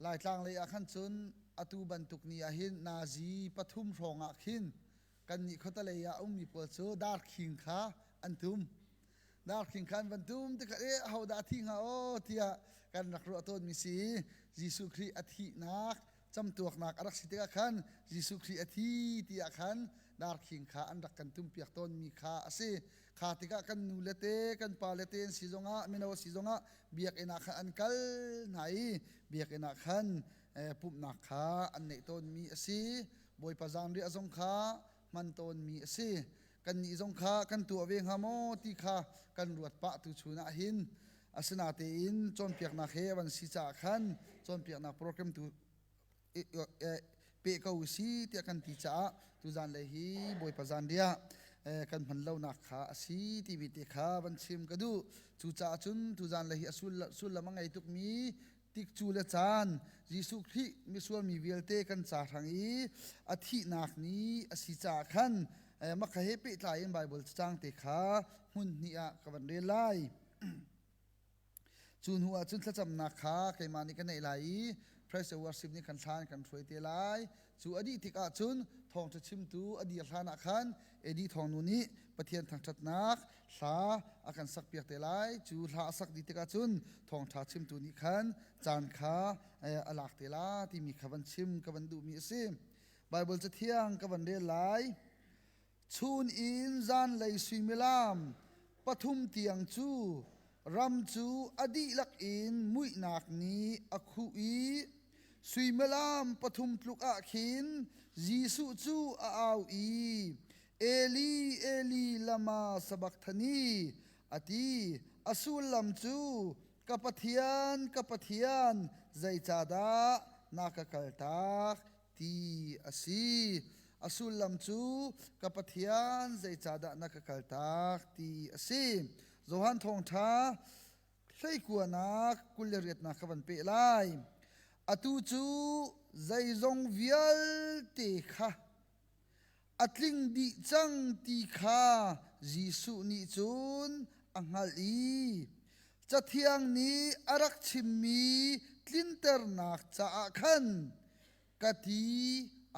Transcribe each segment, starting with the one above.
Laitlang lei ah khan cun atu bantuk ni ah hin Nazi pathum hrawng ah khin kannih khuatalei ah a ummi pawl cu darkhing kha an tum. Darkhing kha an van tum tikhat eh ahodah a thih hnga aw tiah kan rak ruah tawnmi si i Jesuh Khrih a thihnak camtuaknak a rak si tikah khan Jesuh Khrih a thi tiah khan darkhing kha an rak kan tumpiak tawnmi kha a si kha tikah kan nu le te kan pa le te an si zongah mino si zongah biakinn ah khan an kal hna i biakinn ah khan pumhnak kha an neih tawnmi a si bawipa zanriah zong kha hman tawnmi a si kannih zong kha kan tuah ve hnga maw ti kha kan ruat pah tu chunah hin asinatein cawnpiaknak he van si caah khan cawnpiaknak program tu pe ko si tiah kan ti caah tu zanlei hi bawipa zanriah kan hman lonak kha a si ti te kha van chim ka duh cucaah cun tu zanlei hi a sullam a ngei tukmi tikcu le caan Jesuh Khrih misual mi vialte kan ca hrang i a thihnak ni a si caah khan maka he pehtlai in Baibal cacang te kha hmun hnih ah ka van rel lai Cu hnu ah cun thlacamnak kha keimah nih ka neih lai i Praise and Worship nih khan thla an kan hruai te lai. Cu a dih tik ahcun thawngṭha chimtu a dir hlan ah khan Eddie thawngnu nih Pathian thangṭhatnak hla a kan sakpiak te lai. Cu hla a sak dih tikah cun thawngṭha chimtu nih khan caan kha a lak te la timi kha van chim ka van duhmi a si. Baibal cathiang ka van rel lai. Chun in zanlei suimilam pathum tiang cu ram cu a dihlak in muihnak nih a khuh i suimilam pathum tluk ah khin Jesuh cu a au i Eli Eli lama sabakthani a ti a sullam cu ka Pathian ka Pathian zeicahdah na ka kaltak ti a si. A sullam cu ka Pathian zeicahdah na ka kaltak ti a si. Johan Thawngṭha hleikuanak kul le riatnak kha van peh lai. Atu cu zeizong vialte kha A tling dih cang ti kha Jesuh nih cun a hngalh i Cathiang nih a rak chimmi tlinternak caah khan ka ti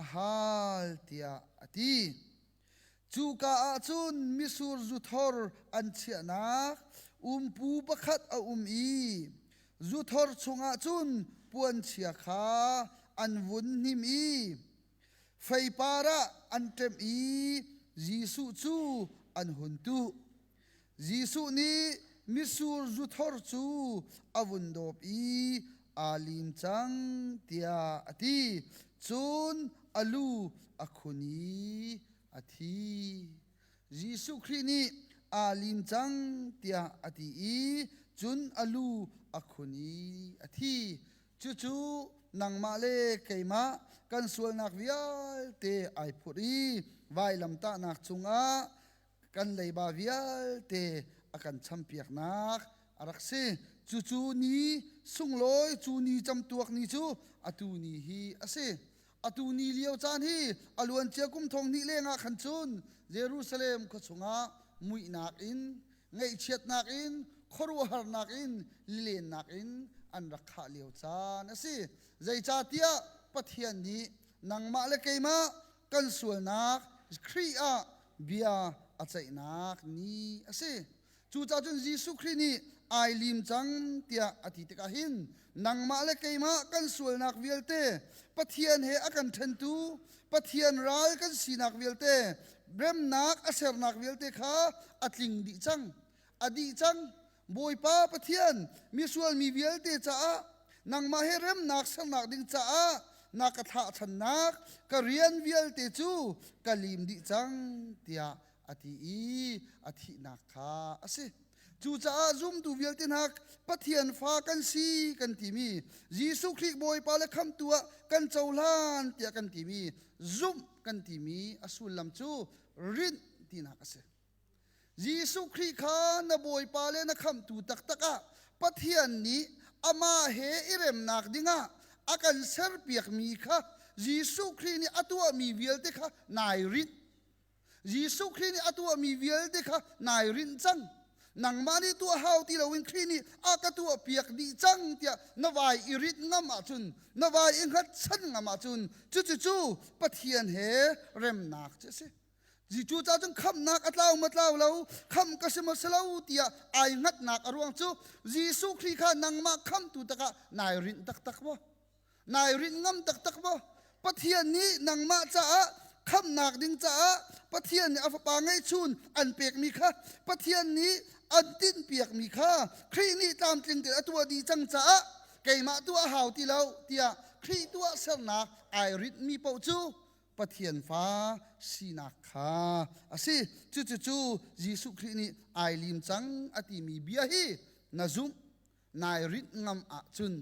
a hal tiah a ti. Cuka ah cun misur zuthor an chiahnak umpu pakhat a um i zuthor chungah cun puanchia kha an vun hnim i Feipar ah an ṭem i Jesuh cu an hun tuh. Jesuh nih mitsur zuthor cu a vun dawp i aa lim cang tiah a ti. Cun a lu a khun i a thi. Jesuh Khrih nih aa lim cang tiah a ti i cun a lu a khun i a thi. Cucu nangmah le keimah kan sualnak vialte ai phurh i vailamtahnak cungah kan leiba vialte a kan champiaknak a rak si. Cucu ni sunglawi, cu ni camtuak ni cu atu ni hi a si. atu ni lio caan hi aluancia kum thong hnih lengah khan cun Jerusalem khua chungah muihnak in ngaihchiatnak in khuaruahharnak in lilennak in an rak khah lio caan a si zeicahtiah pathian nih nangmah le keimah kan sualnak Khrih ah bia a ceihnak ni a si Cucahcun Jesuh Khrih nih ai lim cang tiah a ti tikah hin nangmah le keimah kan sualnak vialte Pathian he a kan ṭhentu Pathian ral kan sinak vialte remnak a sernak vialte kha a tling dih cang a dih cang Bawipa Pathian misual mi vialte caah nangmah he remnak sernak ding caah na ka thlah channak ka rian vialte cu ka lim dih cang tiah a ti i a thihnak kha a si. Cucaah zumtu vialte hna Pathian fa kan si kan timi Jesuh Khrih Bawipa le Khamhtu ah kan cohlan tiah kan timi zumh kan timi a sullam cu rinh tinak a si. Jesuh Khrih kha na Bawipa le na Khamhtu taktak ah Pathian nih amah he i remnak dingah a kan serpiakmi kha Jesuh Khrih nih a tuahmi vialte kha nai rinh Jesuh Khrih nih a tuahmi vialte kha nai rinh cang. Nangmah nih tuah hau ti loin Khrih nih a ka tuahpiak dih cang tiah na vai i rit ngam ahcun, na vai i hngatchan ngam ahcun, cucucu Pathian he remnak cu a si. Jesuh ca cun khamhnak a tlau ma tlau lo, khamh ka si ma si lo tiah ai hngatnak a ruang cu Jesuh Khrih kha nangmah khamhtu takah nai rinh taktak maw? Nai rinh ngam taktak maw? Pathian nih nangmah caah khamnak ding caah Pathian nih a fapa ngeihchun an pekmi kha Pathian nih an tinhpiakmi kha Khrih nih tlamtling tein a tuah dih cang caah keimah tuah hau ti lo tiah Khrih tuah sernak ai ritmi paoh cu Pathian fa sinak kha a si. Cucucu Jesuh Khrih nih ai lim cang a timi bia hi na zumh nai rinh ngam ahcun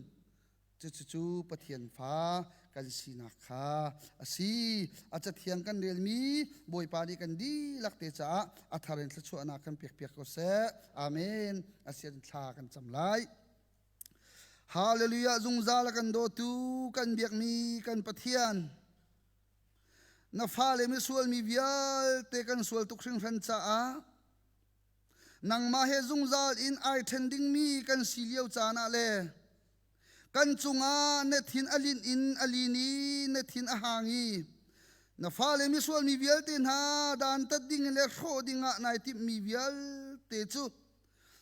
Cucu Pathian fa kan sinak kha a si. A cathiang kan relmi Bawipa nih kan dihlak te caah a thar in thluachuahnak kan pekpiak ko seh. Amen. Asian thla kan cam lai. Hallelujah zungzal a kan dawtu kan biakmi kan Pathian. Na fale misual mi vialte kan sual tuk hringhran caah nangmah he zungzal in ai ṭhen dingmi kan si lio caan ah le kan cungah na thin a lin in a lin i na thin a hang i na fale misual mi vialte hna dantat ding le hrawh ding ah nai timhmi vialte cu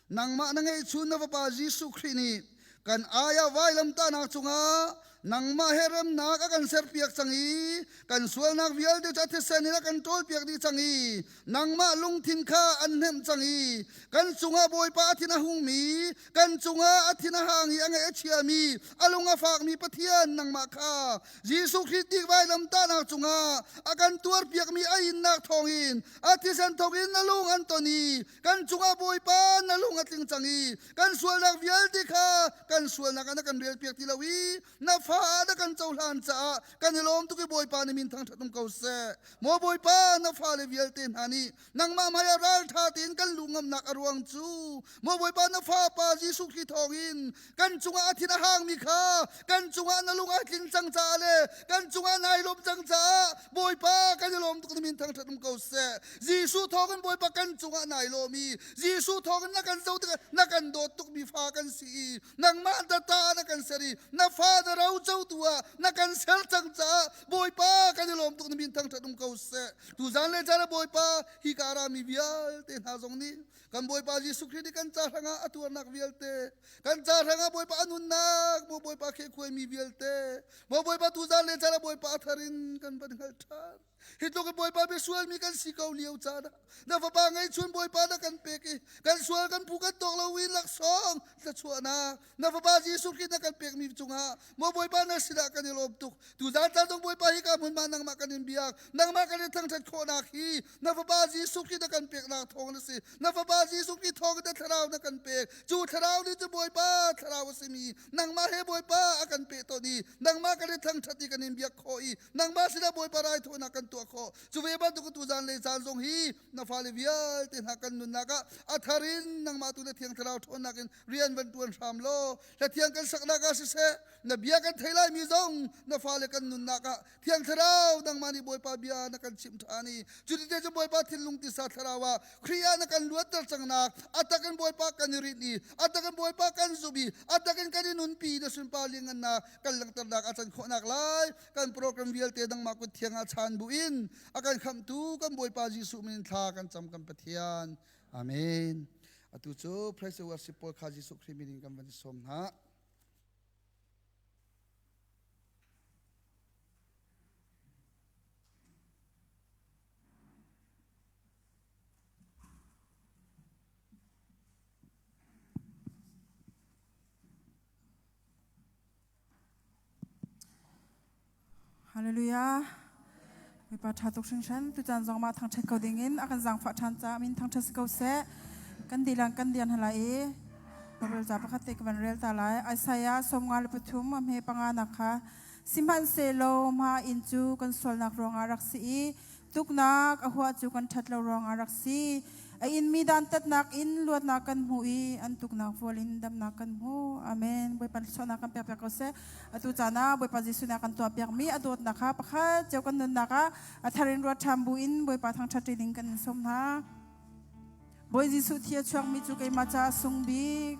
nangmah na ngeihchun na fapa Jesuh Khrih nih kan aya vailam ta na chunga nangmah he remnak a kan ser piak chang i kan sualnak vialte cu athisen in a kan ṭawl piak dih chang i nangmah lungthin kha an hnemh chang i kan cungah bawipa a thin a hungmi kan cungah a thin a hang i a nge a chiami a lung a fakmi pathian nangmah kha Jesuh Khrist dik vailam ta na chungah a kan tuar piakmi a innak thawngin a thisen thawkin a lung an ton i kan cungah bawipa na lung a tling cang i kan sualnak vialte kha kan sualnak ah na kan rel piak ti lo i na fa ah na kan cohlan caah kan i lawm tuk i bawipa na min thang ṭhat um ko seh maw bawipa na fa le vialte hna nih nangmah hmaiah ralṭha tein kan lu ngamnak a ruang cu maw bawipa na fa pa Jesuh Khrih thawngin kan cungah a thin a hangmi kha kan cungah na lung a tling cang caah le kan cungah nai lawm cang caah bawipa kan i lawm tuk na min thangṭhat um ko seh jesuh thawngin bawipa kan cungah nai lawm i jesuh thawngin na kan zo tikah na kan dawt tukmi fa kan si i nangmah ta ta na kan ser i na fa na ro cotu ah na kan ser cang caah bawipa kan i lawm tuk na min thangṭhat um ko seh tu zan le caan ah bawipa hi ka arami vialte hna zong nih Kan Bawipa Jesuh Khrih nih kan ca hrangah a tuarnak vialte, kan ca hrangah Bawipa a nunnak maw Bawipa khekhuai mi vialte, maw Bawipa tuzan le caan ah Bawipa a thar in kan van hngalh ṭhan. Hi tluk in Bawipa biasual mi kan si ko lio caan ah na fapa ngei chun Bawipa na kan pek i kan sual kan phu kan tawk lo in laksawng thluachuahnak na fapa Jesuh Khrih na kan pekmi cungah maw Bawipa na sinah kan i lawm tuk tu zan tan zong Bawipa hi ka hmunma nangmah kan in biak nangmah kan in thangṭhat khawhnak hi na fapa Jesuh Khrih na kan peknak thawng na si na fapa Jesuh Khrih thawng in thlarau na kan pek cu thlarau nih cu Bawipa thlarau a simi nangmah he Bawipa a kan pe ton i nangmah kan in thangṭhat i kan in biak khawh i nangmah sinah Bawipa raithawinak kan tuah khawh cu ve bantuk tu zan le zan zong hi na fale vialte hna kan nunnak ah a thar in nangmah tu na thiang thlarau ṭhawnnak in rian van tuan hram law hlatiang kan saknak ah siseh na bia kan thei lai mi zong na fale kan nunnak ah thiang thlarau dangmah nih bawipa bia na kan chim tha ni cuti te cu bawipa thinlung tisa thlarau ah khrih ah na kan luatter cangnak atak in bawipa kan i rit ni atak in bawipa kan zubi atak in kan i nunpi na sunpa lingan na kan langternak a can khawhnak lai kan program vialte dangmah kut thiang ah chan bu in akan khamtu kan bawipa Jesuh min thla kan cam kan pathian Amen. Atu cu Praise the Worship pawl kha Jesuh Khrih min in kan van i sawm hna. Hallelujah. Mipa ṭha tuk hringhran. Tuchan zong mah thangṭhat ko ding in a kan zangfah ṭhan caah min thangṭhat si ko seh. Kan dilang kan dian hala i Baibal ca pakhat te ka van rel ta lai. Isaiah sawmnga le pathum a hme panga nak kha sihmanhsehlaw mah inn cu kan sualnak ruangah rak si i Tuknak a huah cu kan ṭhat lo ruangah rak si. A inmi dantatnak in luatnak kan hmu i an tuknak vual in damnak kan hmu. Amen. Bawipa sualnak kan pekpiak ko seh. Atu caan ah Bawipa Jesuh nih a kan tuahpiakmi a dawtnak kha pakhat cio kan nunnak ah a thar in ruat ṭham buin Bawipa thangṭhat ṭining kan in sawm hna. Bawi Jesuh thi a chuakmi cu keimah caah sung bik.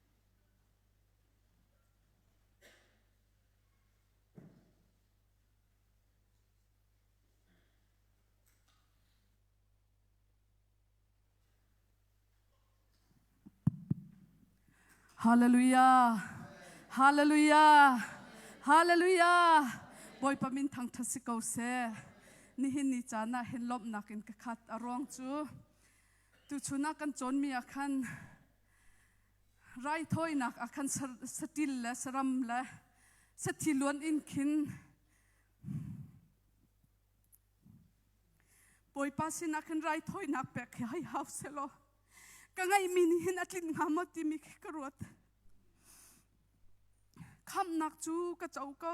Hallelujah. Hallelujah. Hallelujah. Bawipa min thangthat si ko se. Nihin ni caan ah hin lawmhnak in ka khat a ruang cu tu chunah kan cawnmi ah khan raithawinak ah khan saṭil le saram le sathi luan in khin Bawipa sinah khin raithawinak pek hi hai hau se law ka ngaihmi nih hin a tlin hnga maw timi khi ka ruat khamnak cu ka co ko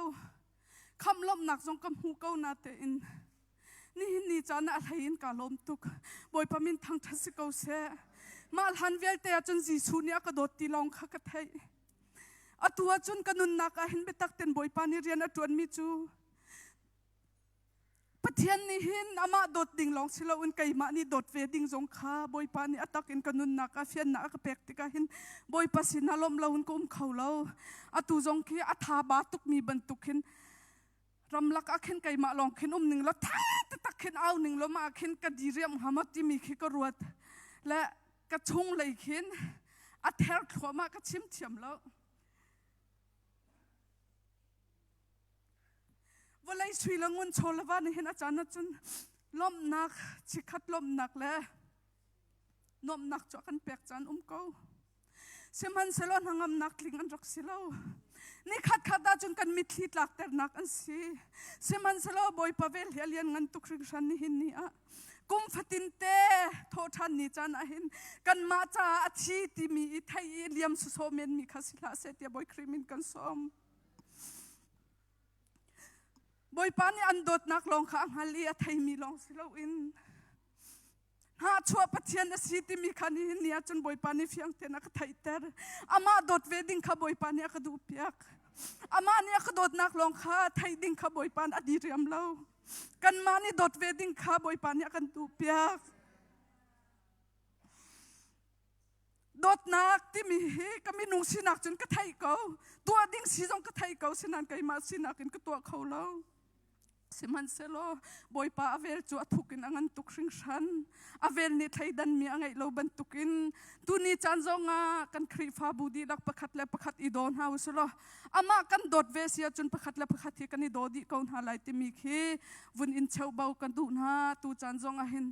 khamlawmnak zong ka hmu ko na tein nihin ni caan ah hlei in ka lawm tuk bawipa min thangthat si ko se mah hlan vialte ahcun Jesuh nih a ka dawt ti lawng kha ka theih atu ahcun ka nunnak ah hin biatak ten bawipa nih rian a tuan mi cu Pathian nih hin amah dawt ding lawng si loin keimah nih dawt ve ding zong kha Bawipa nih a tak in ka nunnak ah fiannak a ka pek tikah hin Bawipa sin ah lawmh loin ka um kho lo. Atu zong khi a tha ba tukmi bantuk hin ramlak ah khin keimah lawng khin um ning law tha taktak khin au ning law mah khin ka diriam hama timi khi ka ruat le ka chung lei khin a ther thluahmah ka chim thiam lo. vawlei sui le ngun chaw lava ni hin a caan cun lawmhnak chikhat lawmhnak le nuamhnak cu a kan pek caan um ko sihmanhsehlaw hnangamnak tling an rak si lo ni khat khat ah cun kan mitthli tlakternak an si sihmanhsehlaw bawipa ve hlia lian ngan tuk hringhran ni hin ni ah kum fatin te thawhthan ni caan ah hin kan mah caah a thi timi i thei i liam suso men mi kha si hlah se tia boi krimin kan som Bawipa nih an dawtnak lawng kha a hngal i a theimi lawng si loin hahchuah Pathian a si timi kha nihin ni ah cun Bawipa nih fiang tein a ka theihter. Amah dawt ve ding kha Bawipa nih a ka duhpiak. Amah nih a ka dawtnak lawng kha theih ding kha Bawipa nih a diriam lo. Kanmah nih dawt ve ding kha Bawipa nih a kan duhpiak. dawtnak timi hi ka minung sinak cun ka thei ko tuah ding si zong ka thei ko sinan keimah sinak in ka tuah kho lo sihmanhsehlaw bawipa avel cu a thuk in a ngan tuk hringhran avel nih thleidan mi a ngeih lo bantukin tuni caan zongah kan khrihfabu dihlak pakhat le pakhat i daw hna u sulaw amah kan dawt ve sia cun pakhat le pakhat hi kan i daw dih ko hna lai timi khi vun in cheuhbo ka duh hna tu caan zongah hin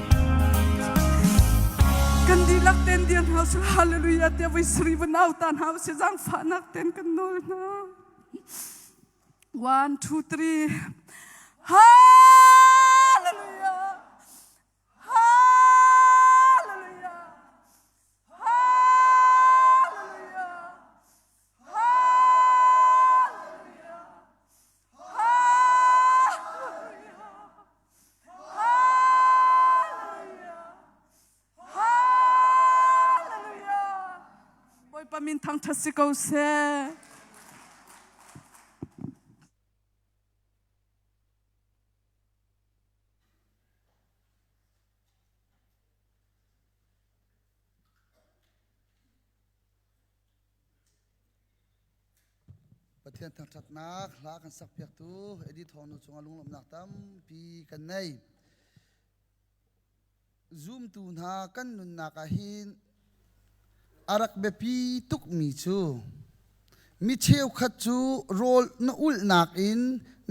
kan dihlak ten dir hna sung hallelujah te voi sri va nau ta hna se jang fa nak ten kan nol hna 1 2 3 Hallelujah Hallelujah Hallelujah Bawipa min thangṭhat si ko seh. Pathian thangṭhatnak hla kan sakpiaktu Eddie Thawngnu cungah lunglawmhnak tampi kan nei. Zumtu hna kan nunnak ah hin a rak biapi tukmi cu mi cheukhat cu rawl na ulhnak in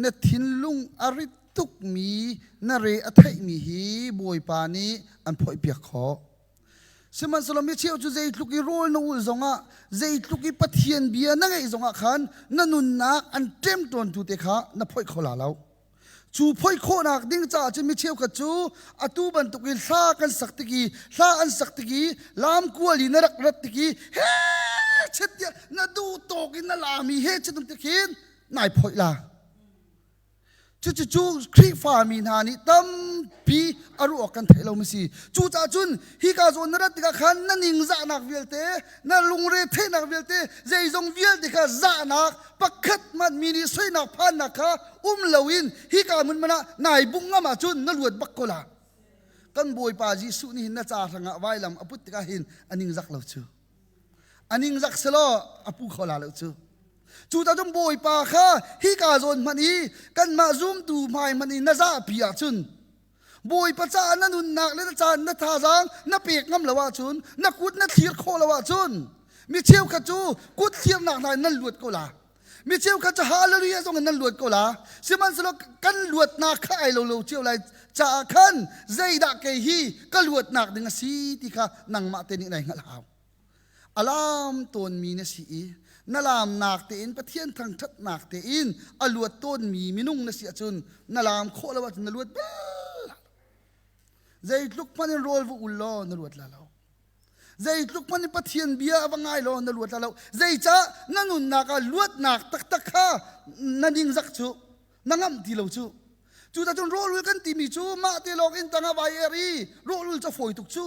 na thinlung a rit tukmi na re a theihmi hi Bawipa nih an phoihpiak khawh. Sihmanhsehlaw micheu cu zeitluk i rawl na ul zongah, zeitluk i Pathian bia na ngeih zongah khan na nunnak an ṭemṭawntu te kha na phoih kho la lo. Cu phoih khawhnak ding caah cun mi cheukhat cu atu bantuk i hla kan sak tik i hla an sak tik i lamkual i na rak rat tik i he chet tiah na duh tawk in na lami he chet tik hin nai phoih la. Cucu Khrihfami hna nih tampi a ruah kan theih lo mi si. Cucaah cun hi ka zawn na rat tikah khan na ningzahnak vialte, na lungre theihnak vialte, zeizong vialte kha zahnak pakhat hmanh mi nih soinak phannak kha um loin hi ka hmun mana nai bung ngam ahcun na luat bak ko la. Kan Bawipa Jesuh nih hin na ca hrangah vailam a put tikah hin a ningzak lo cu. a ningzak selaw a pu kho la lo cu cu tacun bawipa kha hi ka zawn hmanh i kanmah zumtu hmai hmanh i na zahpi ahcun bawipa caah na nunnak le na caan na thazaang na pek ngam lo ahcun na kut na thlir khawh lo ahcun mi cheukhat cu kut thirnak hna in nan luat ko la Mi cheukhat cu hallelujah zong in nan luat ko la sihmanhsehlaw kan luatnak kha ai lo lo cio lai caah khan zeidah kei hi ka luatnak ding a si ti kha nangmah te nih nai hngalh hau alam tawnmi na si i na lamnak tein pathian thangthatnak tein a luat tawnmi minung na si ahcun na lam khawh lo ahcun na luat bel zeitluk hmanh in rawl vu ul law na luat la lo zeitluk man in pathian bia a va ngai law na luat lo zeicah na nunnak ah luatnak taktak kha na ningzak cu na ngamh ti lo cu cucun rawlul kan timi cu mah te lawng in tang a vai er i rawlul ca fawi tuk cu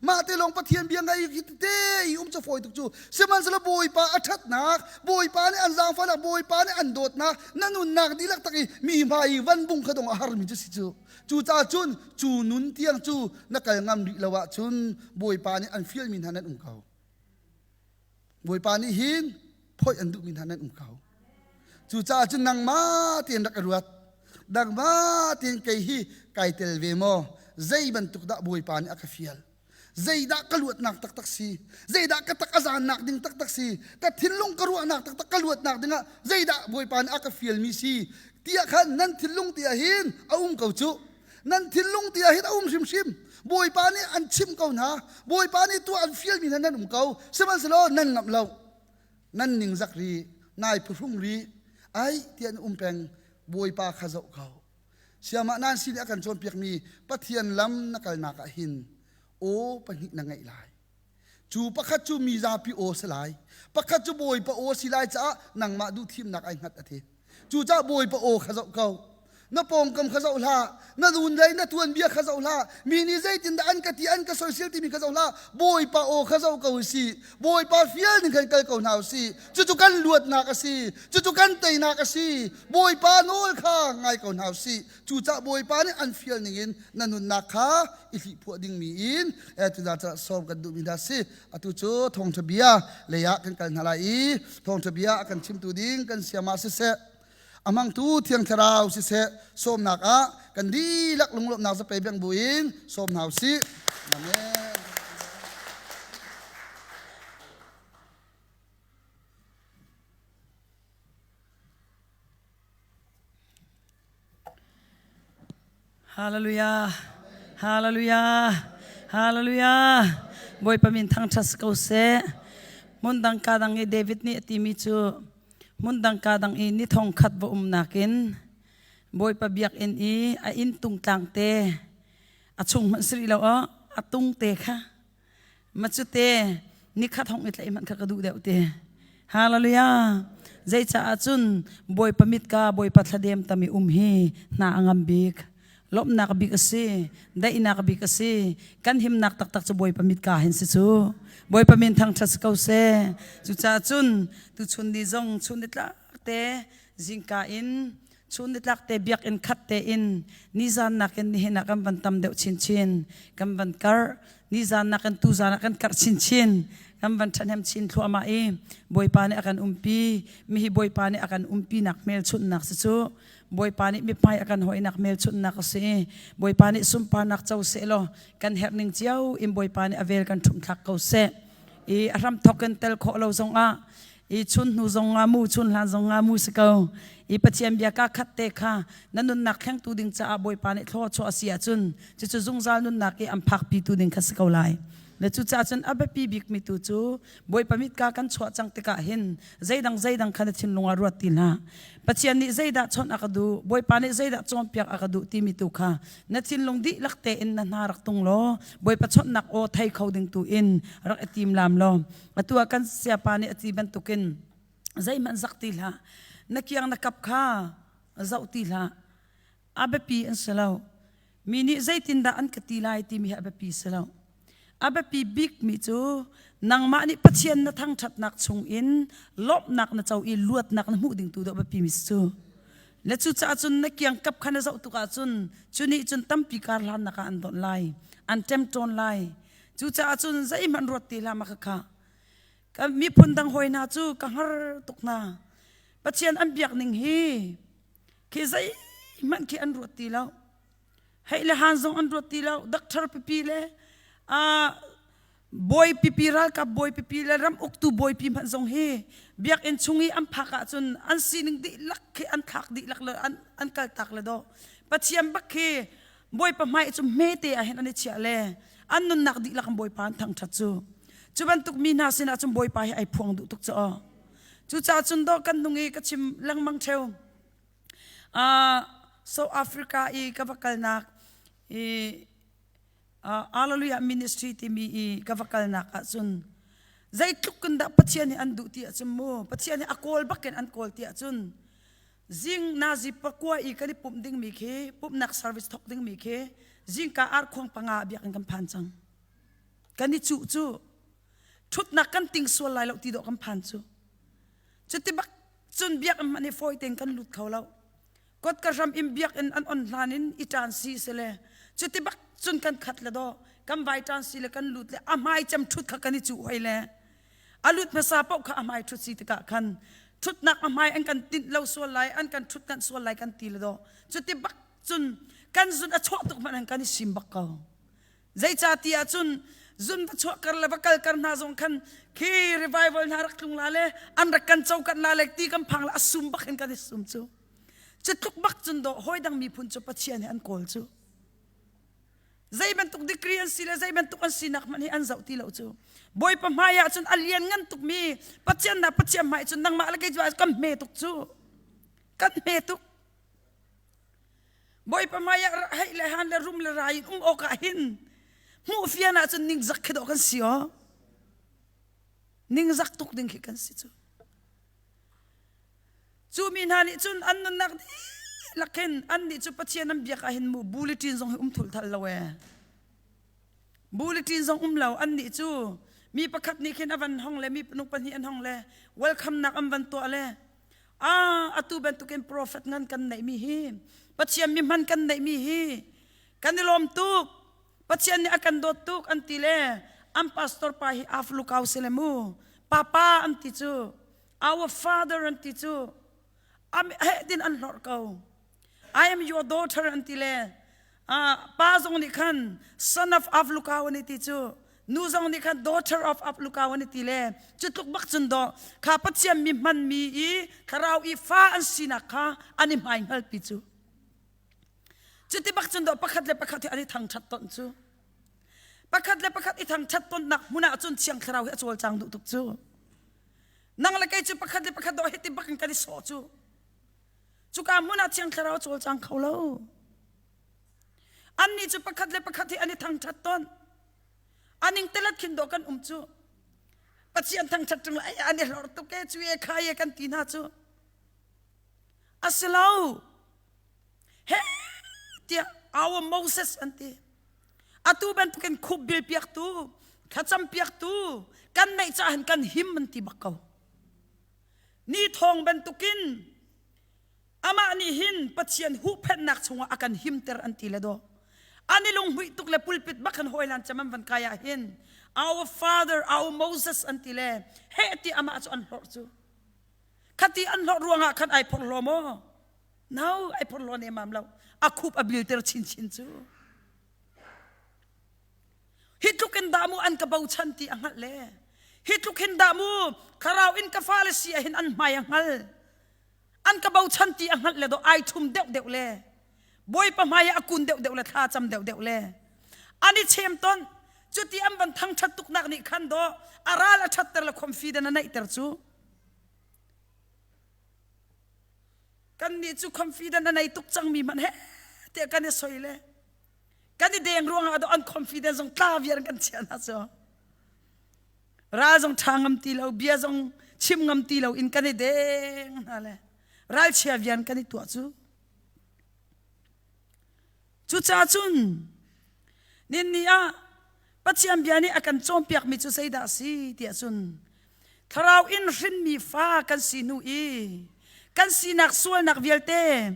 mah te lawng pathian bia ngai te i um ca fawi tuk cu sihmanhsehlaw bawipa a ṭhatnak bawipa nih an zaangfahnak bawipa nih an dawtnak na nunnak dihlak tak i mi hmai i van bung kha dong a harmi cu si cu Cucaah cun cu nun tiang cu na kal ngam rih lo ahcun Bawipa nih an fialmi hna nan um ko. Bawipa nih hin phoih an duhmi hna nan um ko. Cucaah cun nangmah tein rak ka ruat. Dangmah tein kei hi kai tel ve maw? Zei bantuk dah Bawipa nih a ka fial? Zeidah ka luatnak taktak si? Zeidah ka tak a zaannak ding taktak si? Ka thinlung ka ruahnak taktak ka luatnak dingah zeidah Bawipa nih a ka fialmi si? Tiah khan nan thinlung tiah hin a um ko cu. Nan thinlung tiah hin a um hrimhrim. Bawipa nih an chimh ko hna. Bawipa nih tu an fialmi hna nan um ko. Sihmanhsehlaw nan ngamh lo. Nan ningzak rih. Nai phuhrung rih. Ai ti an um peng. Bawipa kha zoh ko. siamah nan si a kan cawnpiakmi pathian lam na kalnak ah hin aw pahnih na ngeih lai cu pakhat cu mi zapi aw si lai pakhat cu bawipa aw si lai caah nangmah duh thimnak ai hngat a ti cucaah bawipa aw kha zoh ko na pawngkam kha zoh hlah na dun dei na tuanbia kha zoh hlah mi nih zeitin dah an ka ti an ka soisel timi kha zoh hlah bawipa aw kha zoh ko si bawipa fial ning khan kal ko hna u si cucu kan luatnak a si cucu kan teinak a si bawipa nawl kha ngai ko hna usih cucah bawipa nih an fial ningin na nunnak kha i hlih phuah dingmi in tuna cah sawm kan duhmi hna si atu cu thawngṭha bia leiah kan kal hna lai i thawngṭha bia a kan chimtu ding kan siama siseh amangtu thiang thlarau siseh sawmnak ah kan lak lunglawmhnak zape beng buin sawm hna usih amen Hallelujah. Hallelujah. Hallelujah. Bawipa min thangṭhat si ko seh. Hmun dang ka dang i David nih a timi cu hmun dang ka dang i ni thongkhat va um nakin Bawipa biakinn i a inn tung tlang te a chung hmanh si rih lo a tung te kha Macute nikhat hong i tlaih hmanh kha ka duh deuh te. Hallelujah. Zei caah cun Bawipa mitka Bawipa thladem tam i um hi hna a ngam bik. Lawmhnak bik a si. Daihnak bik a si. Kan himnak taktak cu Bawipa mitka hin si cu. Bawipa min thangṭhat si ko se. Cucaah cun tuchun ni zong chun ni tlak te zingka in Cu nitlakte biakinn khat tein nizan nakin nihin ah kan van tam deuh chinchin. Kan van karh. Nizan nakin tuzan ah kan karh chinchin. Kan van ṭhahnem chin thluahmah i Bawipa nih a kan umpi. Mihi Bawipa nih a kan umpinak hmelchunhnak si cu Bawipa nih mithmai a kan hoinak hmelchunhnak a si i Bawipa nih sunparnak co seh law kan herh ning cio in Bawipa nih a vel kan ṭhumthlak ko seh. I a hramthawk in tel khawh lo zongah i chun hnu zong nga mu chun hlan zong nga mu si ko i pathian bia ka khat te kha na nunnak khengtu ding caah bawipa nih thlaw chuah a si ahcun cucu zungzal nunnak i am phak pitu ding kha si ko lai na cucaah cun a biapi bikmi tu cu bawipa mit ka kan chuah cang tikah hin zeidang zeidang kha na thinlung ah ruat ti hlah pathian nih zeidah chawnh a ka duh bawipa nih zeidah cawnpiak a ka duh timi tu kha na thinlung dihlak tein na hna rak tung law bawipa chawnhnak aw thei kho ding tu in rak i tim lam law atu ah kan siapa nih a ti bantukin zeihmanh zak ti hlah na kiang na kap kha zoh ti hlah a biapi an si lo mi nih zeitindah an ka ti lai timi hi a biapi si lo a biapi bikmi cu nangmah nih pathian na thangṭhatnak chungin lawmhnak na co i luatnak na hmuh ding tu dawh biapimi cu le cucaah cun na kiang kap kha na zoh tukah cun cu nih cun tampi kar hlannak ah an donh lai an ṭem ṭawn lai Cucaah cun zeihmanh ruat ti hlam a ka khah. Ka miphun dang hoi hna cu ka hngar tuk hna. Pathian an biak ning hi khi zeihmanh khi an ruat ti lo. Hei le han zong an ruat ti lo. Dakthar pipi le uh, bawi pipi ralkap bawi pipi le ram uktu bawi pi hmanh zong hi biak in chung i an phak ahcun an sining dihlak khi an thlak dihlak le an, an kaltak le do. Pathian bak khi Bawipa hmai cu hmete ah hin an i chiah le an nunnak dihlak in Bawipa an thangṭhat cu cu bantuk mi hna sinah cun Bawipa hi ai phuang duh tuk cu aw cucaah cun daw kan nung i ka chim lengmang cheu uh, South Africa i ka va kalnak i uh, Hallelujah Ministry timi i ka va kalnak ah cun zeitluk in dah Pathian nih an duh ti ahcun mu Pathian nih a kawl bakin an kawl ti ahcun zing nazi pakua i kan i pumh dingmi khi pumhnak service thok dingmi khi zingka ar khuang panga biak in kan phan cang kan i cuh cu ṭhutnak kan ting sual lai lo ti dawh kan phan cu cuti bak cun biakinn man hi fawi tein kan lut kho lo kot ka hram in biakinn an on hlan in i ṭan si se le cuti bak cun kan khat le daw kan vai ṭan si le kan lut le a hmai cem ṭhut kha kan i cuh hoi le A lut hmasa paoh kha a hmai ṭhut si tikah khan ṭhutnak a hmai an kan tinh lo sual lai, an kan ṭhutnanh sual lai kan ti le daw. Cuti bak cun kan zun a chuah tuk hmanh an kan i sim bak ko. Zeica ti ah cun zun va chuahkar le va kalkar hna zong khan khi revival hna rak tlung la le an rak kan cokan la le ti kan phang la a sum bak in kan i sum cu. Cu tluk bak cun daw hawi dang miphun cu Pathian nih an kawl cu. zei bantuk degree an si le zei bantuk an sinak hmanh hi an zoh ti lo cu bawipa hmai ah cun a lian ngan tuk mi pathian na pathian hmai cun nangmah le kei cu kan hme tuk cu kan hme tuk bawipa hmai ah hei le han le rum le ra in um awk ah hin hmuh fian ah cun ning zak khi dawh kan si o ning zak tuk ding khi kan si cu Cu mi hna nih cun an nunnak dihlak khin annih cu Pathian an biak ahhin mu buliṭin zong hi um thulthal lo ee. Buliṭin zong um lo annih cu mi pakhat nih khin a van hong le mi nu pahnih an hong le welcome nak an van tuah le a atu bantukin profet ngan kan neihmi hi Pathian mi hman kan neihmi hi kan i lawm tuk Pathian nih a kan dawt tuk an ti le an pastor pa hi af lukau si le mu papa an ti cu Our father an ti cu a heh tin an hlor ko I am your daughter an ti le pa zong nih khan son of of lukaw ani ti cu nu zong nih khan daughter of of lukaw ani ti le cu tluk bak cun do kha pathian mi hman mi i thlarau i fa an sinak kha ani mai ngal pi cu cuti bak cun do pakhat le pakhat hi ani thang that ton cu pakhat le pakhat i thang that ton nak hmunah cun thiang thlarau hi a col chang duh tuk cu nang le kei cu pakhat le pakhat dawh hiti bakin kan i sawh cu cuka hmun ah thiang thlarau cawl cang kho lo annih cu pakhat le pakhat hi an i thangṭhat ton aning telet khin do kan um cu pathian thangṭhat ṭung an i hlor tuk e cu e kha e kan ti hna cu asilo he tiah our Moses an ti atu bantukin khup bil piaktu thlacam piaktu kan neih caah kan him an ti bak ko ni thawng bantukin amah nih hin pathian huhphennak chungah a kan himter an ti le do ani lunghmuih tuk le pulpit bakan hoilan chamam van kaya hin our father our moses an ti le he ti amah cu an hlor cu khati an hlor ruangah khan ai phor lo maw No, ai phor lo ne mam lo. A khup a bil ter chin chin cu. Hi tluk in damu an ka bochan ti a ngal le. Hi tluk hin damu kharau in ka fa le sia hin an hmai a ngal. An ka bochan ti a ngal le do ai thum deuh deuh le. Boipa hmai a kun deuh deuh le thla cham deuh deuh le. Ani chem ton cu ti an ban thang that tuk nak nih khan do aral a that ter le khom fi den a neih ter cu. kannih cu confident a nei tuk cangmi hmanh he te kan i soi le kan i deng ruangah adaw unconfident zong tla viar kan chia hna cu ral zong ṭha ngam ti lo bia zong chim ngam ti lo in kan i deng hna le ralchia vian kan i tuah cu Cucaah cun ninni ah Pathian bia nih a kan cawnpiakmi cu zeidah a si tiah cun thlarau in hrinmi fa kan si hnu i kan sinak sualnak vialte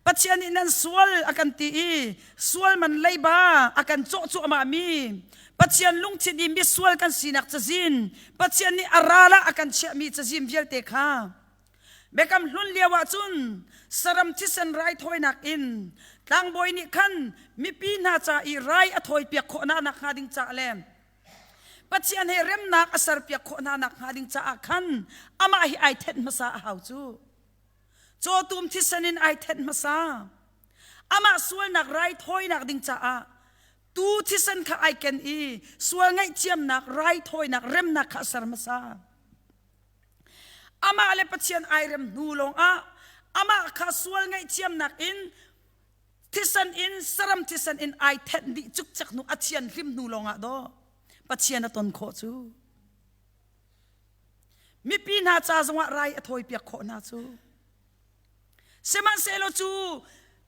Pathian nih nan sual a kan ti i sual man leiba a kan cawh cuahmahmi Pathian lungthin i misual kan sinak cazin Pathian nih a ral ah a kan chiahmi cazin vialte kha Biakam hlun lio ahcun saram thisen raithawinak in tlangbawi nih khan mipi hna ca i rai a thawipiak khawh hna nakhnga ding caah le Pathian he remnak a serpiak khawh hna nakhnga ding caah khan amah hi ai thenh hmasa a hau cu. Cawtum thisen in ai thenh hmasa. Amah sualnak raithawinak ding caah tu thisen kha ai ken i sual ngaihthiamnak raithawinak remnak kha a ser hmasa. Amah le Pathian ai rem hnu lawngah amah kha sual ngaihthiamnak in thisen in saram thisen in ai thenh dih cukcek hnu a thian hlim hnu lawngah do Pathian a ton khawh cu mipi hna ca zongah rai a thawi piak khawh hna cu sihmanhsehlaw cu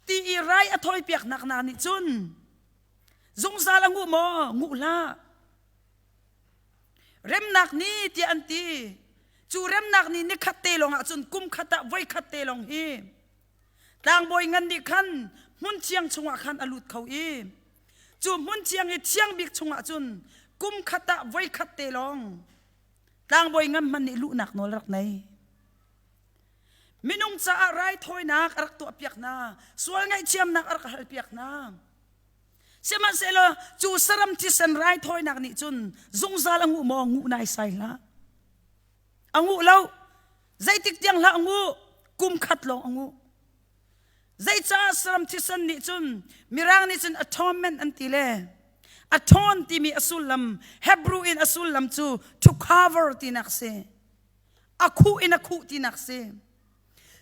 ti i rai a thawi piaknak hna nih cun zungzal a nguh maw nguh hlah remnak ni tiah an ti cu remnak ni nikhat te lawng ah cun kum khat ah voi khat te lawng hi tlangbawi ngan nih khan hmun thiang chungah khan a lut kho i cu hmun thiang i thiang bik chungah cun kum khat ah voi khat te lawng tlangbawi ngan hman nih luhnak nawl rak nei minung caah raithawinak a rak tuah piak hna sual ngaihthiamnak a rak hal piak hna Sihmanhsehlaw cu saram thisen raithawinak nih cun zungzal a nguh maw nguh naisai hlah. A nguh lo. Zeitik tiang hlah a nguh, kum khat lawng a nguh. Zeicah saram thisen nih cun mirang nih cun atonement an ti le aton timi a sullam Hebrew in a sullam cu to cover tinak si. A khuh in a khuh tinak si.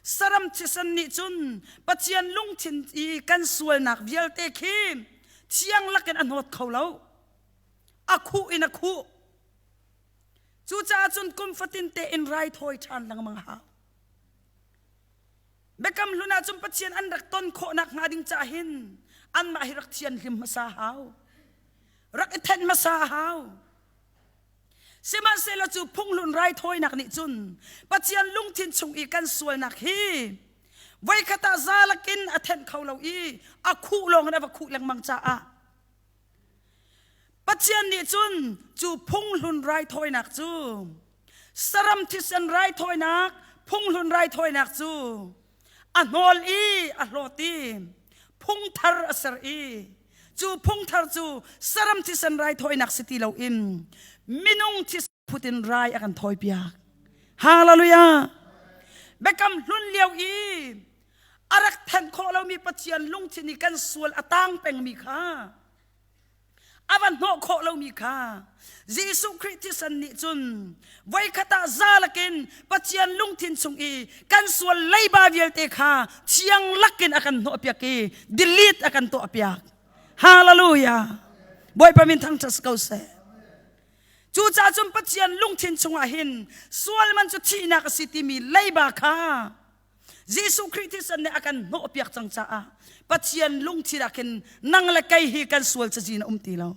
saram thisen nih cun Pathian lungthin i kan sualnak vialte khi thiang lakin a hnawt kho lo a khuh in a khuh cucaah cun kum fatin tein raithawi ṭhan lengmang hau Biakam hlun ah cun Pathian an rak ton khawhnak hnga ding cah hin anmah hi rak thian hlim hmasa hau rak i thenh hmasa hau Sihmanhsehlaw cu phunghlun raithawinak nih cun Pathian lungthin chung i kan sualnak hi voikhat ah za lakin a thenh kho lo i a khuh lawng in a va khuh lengmang caah Pathian nih cun cu phunghlun raithawinak cu saram thisen raithawinak phunghlun raithawinak cu a hnawl i a hlawt i phungthar a ser i cu phungthar cu saram thisen rai thawinak si ti loin minung thisen phut in rai a kan thawi piak hallelujah biakam hlun lio i a rak thanh khawh lomi pathian lungthin i kan sual a tang pengmi kha a van hnawh khawh lomi kha Jesuh Khrih thisen nih cun voikhat ah zalakin Pathian lungthin chung i kan sual leiba vialte kha thiang lakin a kan hnawh piak i delete a kan tuah piak hallelujah bawipa min thangṭhat si ko seh cucaah cun Pathian lungthin chungah hin sual man cu thihnak a si timi leiba kha Jesuh Khrih thisen nih a kan hnawhpiak cang caah Pathian lungthin ah khin nang le kei hi kan sual cazin a um ti lo.